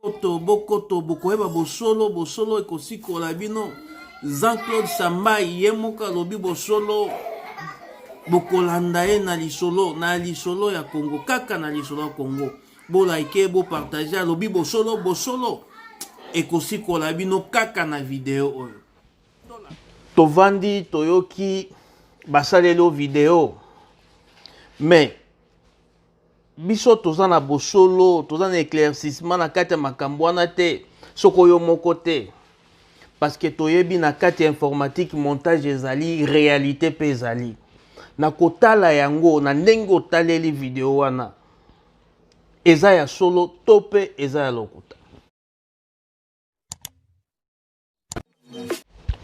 bokoto bokoto bokoyeba bosolo bosolo ekosikola bino jean claude sambai ye moko alobi bosolo bokolanda ye na lisolo na lisolo ya kongo kaka na lisolo ya kongo bolaike bopartage alobi bosolo bosolo ekosikola bino kaka na video oyo tovandi toyoki basaleli o video mais biso toza na bosolo toza na éclaircissement na kati ya makambo wana te soko yo moko te parce que toyebi na kati ya informatique montage ezali réalité mpe ezali na kotala yango na ndenge otaleli video wana eza ya solo to mpe eza ya lokuta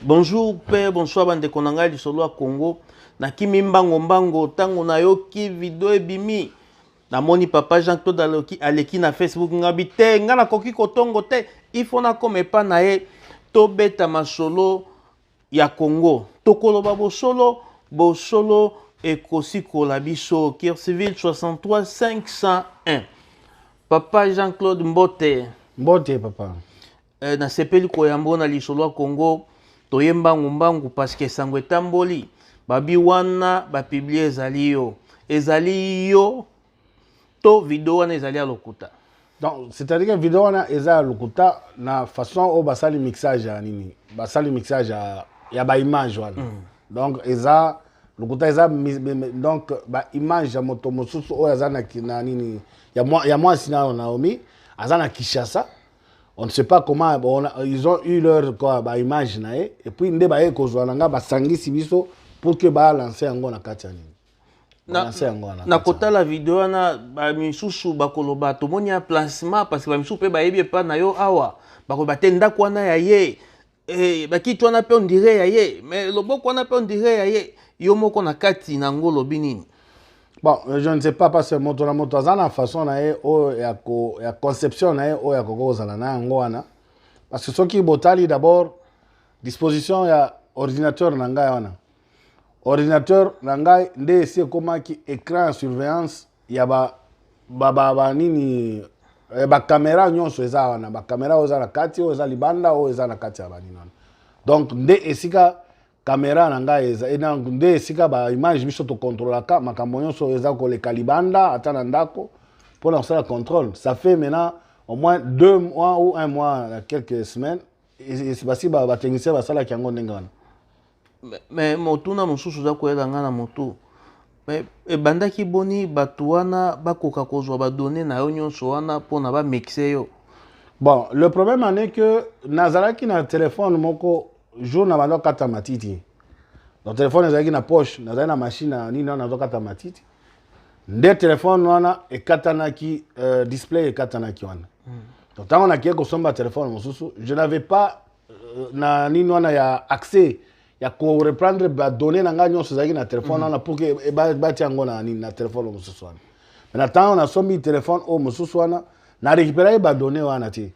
Bonjour père, bonsoir bandeko na ngai lisolo ya Congo. Nakimi mbango mbango ntango nayoki video ebimi namoni papa jean claude aloki aleki na facebook ngabi te ngai nakoki kotongo te ifo nakoma epa na ye tobeta masolo ya congo tokoloba bosolo bosolo ekosikola biso kirsiville 63 501 papa jean claude mbote mbote papa Eh, nasepeli koyamba yo na lisolo ya Congo, toye mbangu mbangu parce que sango etamboli. Babi wana ba publier ezali yo. Ezali yo to video wana ezali ya lokuta. Donc c'est-à-dire que video wana eza ya lokuta na façon oyo basali mixage ya nini? Basali mixage ya, ya ba image wana. Mm. Donc eza lokuta eza donc ba image ya moto mosusu oyo aza na, na nini ya, ya mwasi nayo Naomi aza na Kinshasa on ne sait pas comment bon, ils ont eu leur quoi ba image na ye et puis nde baye kozwa na nga basangisi biso pour que ba lancer yango na kati ya nini na kotala video wana bamisusu bakoloba tomoni ya placement parce que bamisusu mpe bayebi epai na yo awa bakoloba te ndako wana ya ye Hey, eh, bakiti wana mpe ondire ya ye me loboko wana mpe ondire ya ye yo moko na kati na yango olobi nini bon euh, je ne sais pas parce que moto na moto aza na façon na ye oyo ya, ko, ya conception na ye oyo ya koki kozala na yango wana parce que soki botali d'abord disposition ya ordinateur na ngai wana ordinateur na ngai nde esi ekomaki écran ya surveillance ya ba ba ba, ba nini eh, ba camera nyonso eza wana ba camera oyo eza na kati oyo eza libanda oyo eza na kati ya banini wana donc nde esika kamera na ngai eza eh, nde esika ba image biso tokontrolaka makambo nyonso oyo eza koleka libanda ata na ndako mpo na kosala contrôle ça fait maintenant au moins deux mois ou un mois na quelques semaines basi batechnicien basalaki yango ndenge wana me motuna mosusu oza koyela ngai na motu me ebandaki boni bato wana bakoka kozwa badone na yo nyonso wana mpona bamixe yo bon le problème en est que nazalaki na telefone moko jour na banda okata matiti donc telefone ezalaki na poche nazalaki na machine na nini wana nazokata matiti nde telefone wana ekatanaki euh, display ekatanaki wana hmm. donc ntango nakei kosomba telefone mosusu je n'avais pas euh, na nini wana ya accès ya ko reprendre ba données na ngai nyonso ezalaki na telefone mhm. wana pour que eh, batia yango na nini na telefone oyo mosusu wana na ntango nasombi telefone oyo mosusu wana na récupéraki ba données wana te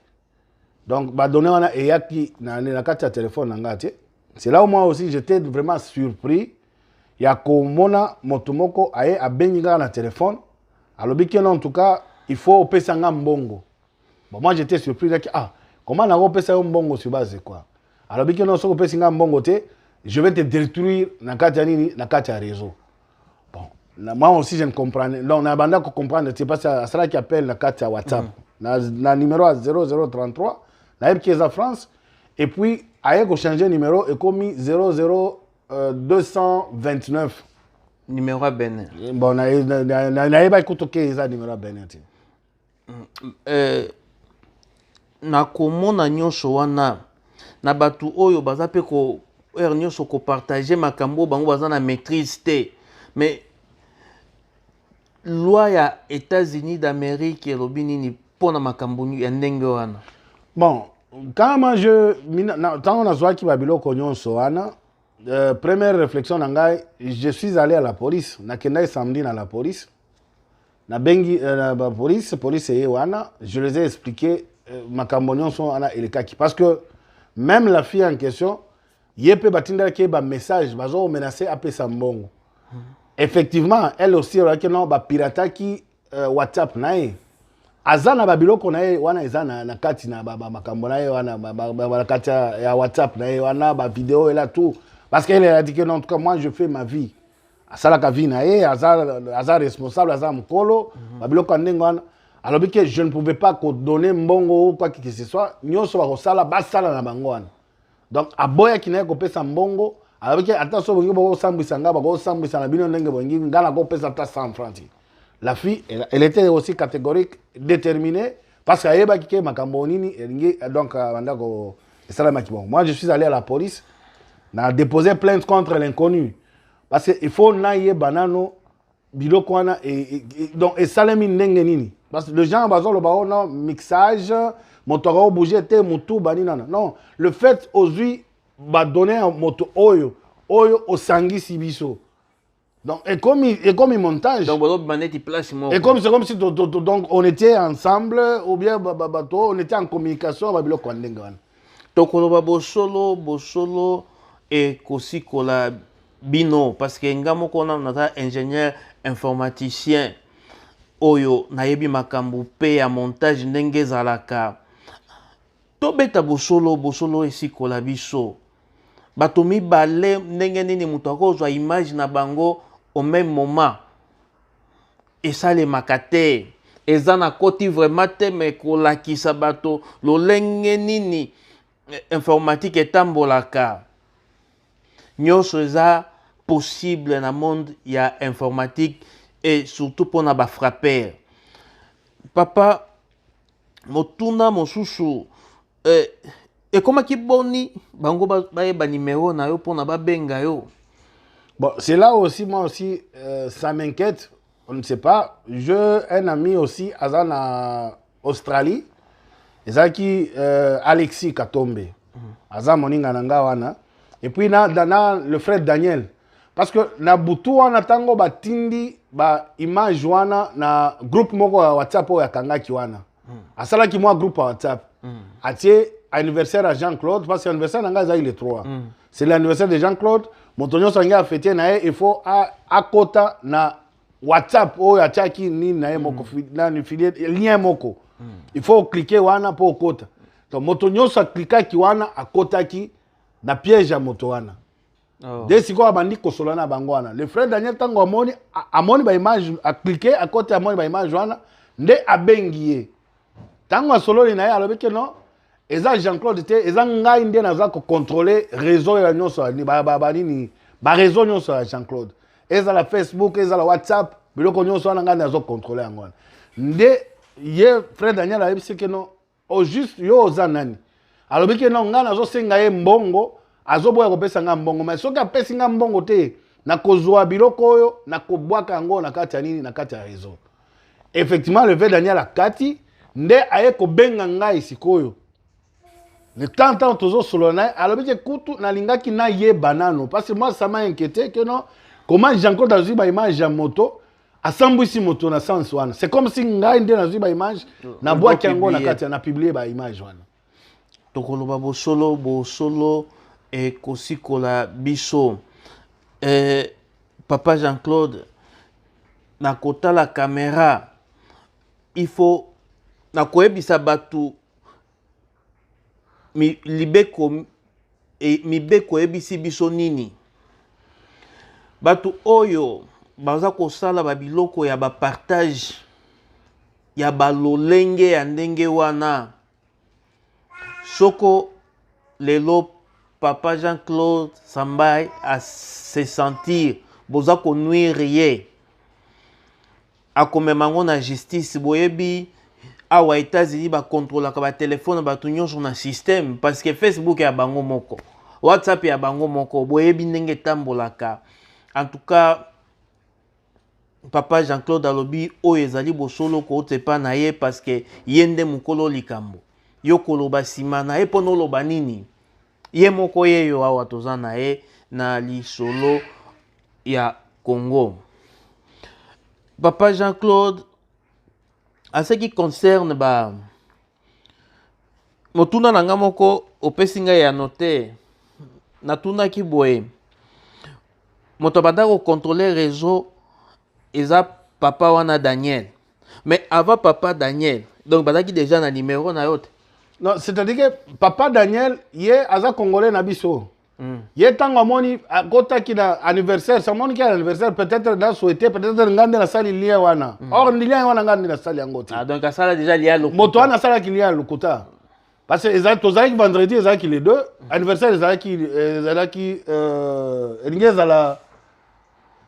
donc ba données wana eyaki na, na kati ya telefone na ngai te c'est là où moi aussi j'étais vraiment surpris ya komona moto moko aye abengi ngai na telefone alobi keno en tout cas il faut opesa ngai mbongo bon moi j'étais surpris naki ah comment nango opesa yo mbongo sur base quoi alobiki non soki opesi ngai mbongo te je vais te détruire na kati ya nini na kati ya réseau bon na, moi aussi je ne comprendre donc na banda ko comprendre te parce asalaki appel na kati ya whatsapp mm. na, na numéro ya 0033 nayebiki eza france et puis aye kochanger numéro ekomi 00 euh, 229 numéro ya benin bon nayebaki kutu ke eza numéro ya benin te eh, na komona nyonso wana na bato oyo baza mpe ko heure nyonso kopartage makambo oyo bango baza na maîtrise te mais loi ya états-unis d'amérique elobi nini mpo na makambo ya ndenge wana bon kama je ntango nazwaki babiloko nyonso wana euh, première réflexion na ngai je suis allé à la police nakendaki samedi na la police na bengi euh, ba police police eye wana je les ai expliqué euh, makambo nyonso wana elekaki parce que même la fille en question ye mpe batindaki ye bamessage bazo menace apesa mbongo hmm. effectivement elle aussi olaki no bapirataki euh, whatsapp na ye aza na babiloko na ye wana eza na, na kati na makambo na ye wana na kati ya whatsapp na ye wana bavideo ela tout parce que elle a dit que non en tout cas moi je fais ma vie asalaka vie na ye aza, aza responsable aza mokolo mm -hmm. babiloko ya ndenge wana alobi ke je ne pouvais pas kodonne mbongo ou quoi que ce soit nyonso bakosala basala na bango wana donc aboyaki na ye kopesa mbongo alobaki ata so bolingi bokosambwisa ngai bakosambwisa na bino ndenge bolingi ngai nakopesa ata 100 franc ti la fille elle était aussi catégorique déterminée parce que ayebaki ke makambo nini elingi donc euh, banda ko esalamaki bongo moi je suis allé à la police na déposer plainte contre l'inconnu parce que il faut nayeba nano biloko wana e, e, e, donc esalemi ndenge nini parce que le genre bazoloba o oh non mixage moto akao bouge te motu bani nana non le fait ozwi badonne ya moto oyo oyo osangisi biso donc ekomi ekomi montage donc bozobima neti place moko ekomi c'est comme si donc on était ensemble ou bien bato on était en communication babiloko ya ndenge wana Tokoloba bosolo, bosolo ekosikola bino parce que nga moko nanu naza ingénieur informaticien oyo nayebi makambo pe ya montage ndenge ezalaka tobeta bosolo bosolo esikola biso bato mibale ndenge nini moto akozwa image na bango au même moment Esalemaka te. Eza na koti vraiment te mais kolakisa bato lolenge nini eh, informatique etambolaka nyonso eza possible na monde ya informatique et surtout mpona bafrapper papa motuna mosusu Eh, ekomaki boni bango bayeba nimero na yo mpona babenga yo bon c'est là aussi moi aussi euh, ça m'inquiète on ne sait pas je un ami aussi aza na australie ezalaki euh, alexis katombe mhm. aza moninga na nga wana et puis na, na, na le frère daniel parce que na butu wana ntango batindi baimage wana na groupe moko ya whatsapp oyo akangaki wana hmm. asalaki mwa groupe ya whatsapp hmm. atie anniversaire ya jean claude parce que anniversaire na ngai ezalaki le 3 hmm. c'est l'anniversaire de jean claude moto nyonso ange afete na ye il faut akota na whatsapp oyo atiaki nini na ye moko nani filie lien moko il faut oklike wana mpo okota donc moto nyonso aklikaki wana akotaki na piège ya moto wana Oh. de sikoyo abandi kosola na bango wana le frère daniel ntango amoni amoni baimage aklike akoti amoni baimage wana nde abengi ye ntango asololi na ye alobi ke non eza jean claude te eza ngai nde naza kocontrole réseau ya nyonso banini baréseau nyonso ya jean claude ezala facebook ezala whatsapp biloko nyonso wana ngai nazo controle yango wana nde ye frère daniel ayebisi ke non au juste yo oza nani alobi ke non ngai nazosenga ye mbongo azoboya kopesa ngai mbongo mai soki apesi ngai mbongo te nakozwa biloko oyo nakobwaka yango na kati ya nini na kati ya réseau effectivement le vrai daniel akati nde aye kobenga ngai sikoyo le temps ntango tozosolola na ye alobi te kutu nalingaki nayeba nano parce que moi ça m'a inquiété que non comment jean claude azwi baimage ya moto asambwisi moto na sens wana c'est comme si ngai nde nazwi baimage mm. na bwaki yango na kati na publie baimage wana tokoloba bosolo bosolo ekosikola biso eh, papa jean claude na kotala kamera il faut na koyebisa bato mi, libeko e, mibeko eyebisi biso nini bato oyo baza kosala babiloko ya bapartage ya balolenge ya ndenge wana soko lelo papa jean claude sambai asesentir boza konuire ye akomema yango na justice boyebi awa etats-unis bakontrolaka batelefone ya bato nyonso na systeme parce que facebook ya bango moko whatsapp ya bango moko boyebi ndenge etambolaka en tout cas papa jean-claude alobi oyo ezali bosolo kouta epa na ye parce que ye nde mokolo likambo yo koloba nsima na ye mpo noloba nini ye moko yeyo awa toza na ye na lisolo ya congo papa jean claude en ce qui concerne ba motuna na ngai moko opesi ngai ya note natunaki boye moto abanda kokontrole reseau eza papa wana daniel mais avant papa daniel donc bazalaki déjà na numéro na yo te non c'est-à-dire que papa daniel ye aza congolais na biso mm. ye ntango amoni akotaki na anniversaire samoniki ya anniversaire peut-être na souhaite peut-être ngai nde nasali lien wana mm. or lien wana ngai nde nasali yango te ah, donc asala déjà lien lokuta moto wana asalaki lien ya lokuta parce que tozalaki vendredi ezalaki les deux mm. anniversaire ezalaki euh, ezalaki euh, elingi ezala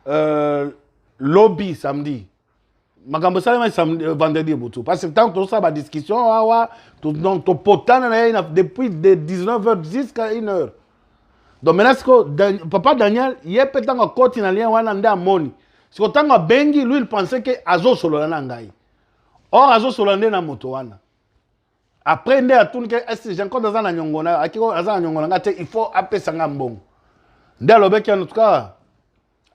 euh, lobi samedi mm. makambo esalemaki samedi euh, vendredi ebutu parce que ntango tozosala badiscussion awa donc topotana na ye depuis de 19 heures jusqu'à 1 heure donc maintenant siko Dan, papa daniel ye mpe ntango akoti na lien wana nde amoni siko ntango abengi lui il pensait ke azosolola na ngai or azosolola nde na moto wana après nde atuni ke esi jean claude aza na nyongo na yo akiko aza na nyongo na ngai te il faut apesa ngai mbongo nde alobeki en tout cas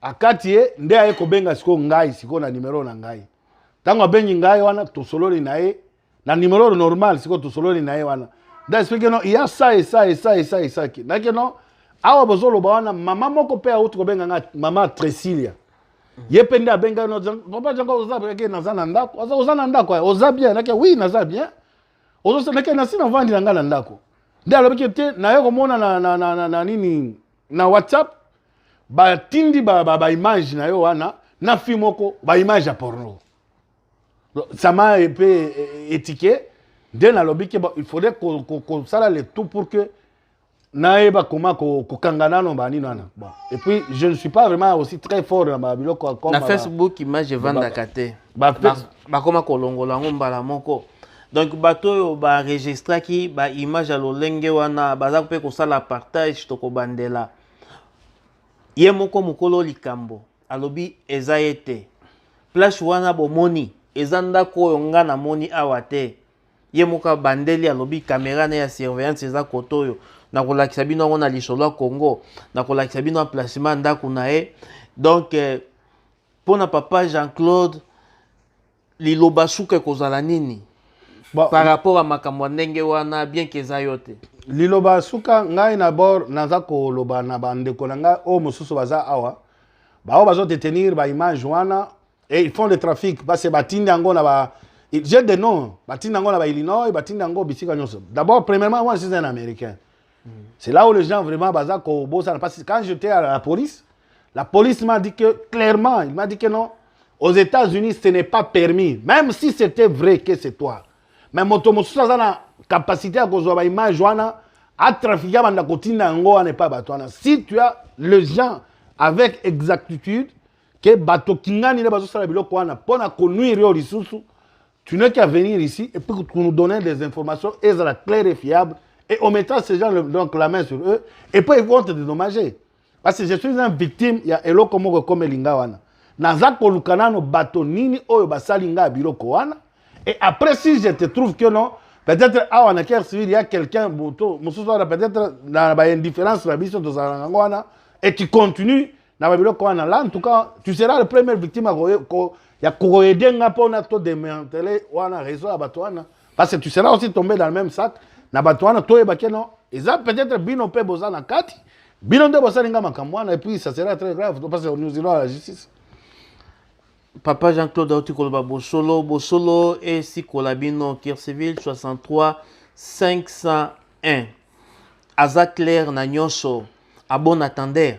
akati ye nde aye kobenga sikoyo ngai sikoyo na nimero na ngai ntango abengi ngai wana tosololi na ye na nimero normal sikoyo tosololi na ye wana nde explike no ya sa esa esa esa esaki nake no awa bozoloba wana mama moko mpe auti kobenga ngai mama tresilia ye mpe nde abengai no papa jango oza ke naza na ndako oza na ndako oza bien nake oui naza bien ozosenake nasi navandi na ngai na ndako nde alobaki te naye komona na, na, na, na, na nini na whatsapp batindi baimage na yo wana na fi moko baimage ya porno sama mpe etike nde nalobi ke il faudrait kosala le tout pour que nayeba koma kokanga nano banini wana bon et puis je ne suis pas vraiment aussi très fort na babiloko comme na facebook image evandaka te bakoma kolongola yango mbala moko donc bato oyo baregistraki baimage ya lolenge wana baza mpe kosala partage tokobandela ye moko mokolo likambo alobi eza ye te place wana bomoni eza ndako oyo nga namoni awa te ye moko abandeli alobi kamera ne ya surveillance eza kote oyo nakolakisa bino yango na lisolo ya congo nakolakisa bino emplacement ya ndako na ye donc eh, mpo na papa jean claude Liloba suka ekozala nini bon, par rapport à makambo ndenge wana bien que eza yo te. Liloba suka ngai na bord naza koloba na bandeko na ngai oyo mosusu baza awa baoyo bazo detenir ba image wana et ils font le trafic parce que batindi yango na ba j'ai des noms batindi yango na ba Illinois batindi yango bisika nyonso d'abord premièrement moi je suis un américain C'est là où les gens vraiment baza ko bosana parce que quand j'étais à la police, la police m'a dit que clairement, il m'a dit que non, aux États-Unis ce n'est pas permis, même si c'était vrai que c'est toi. Mais moto mosusu aza na capacité ya kozwa ba image wana atrafikia banda kotinda yango wana epai bato wana si tu as le gens avec exactitude ke bato kingani nde bazosala biloko wana mpo na konuire yo lisusu Tu n'es qu'à venir ici et puis tu nous donner des informations et la claire et fiable et on mettra ces gens donc la main sur eux et puis ils vont te dédommager. Parce que je suis une victime, il y a eloko moko comme lingawana. Naza koluka nano bato nini oyo basali nga biloko wana et après si je te trouve que non peut-être awa na guerre civile il y a quelqu'un mosusu wana peut-être na ba indifférence na biso tozalaka yango wana et tu continues na babiloko wana la en tout cas tu seras le premier victime ya kokoede nga mpo na todementele wana réseau ya bato wana parce que tu seras aussi tombé dans le même sac na bato wana toyeba ke non eza peut-être bino mpe boza na kati bino nde bosali nga makambo wana epuis ça sera très grave parce que nous irons à la justice papa jean claude auti koloba bosolo bosolo esikola bino kirseville 63 501 aza claire na nyonso abon attendeur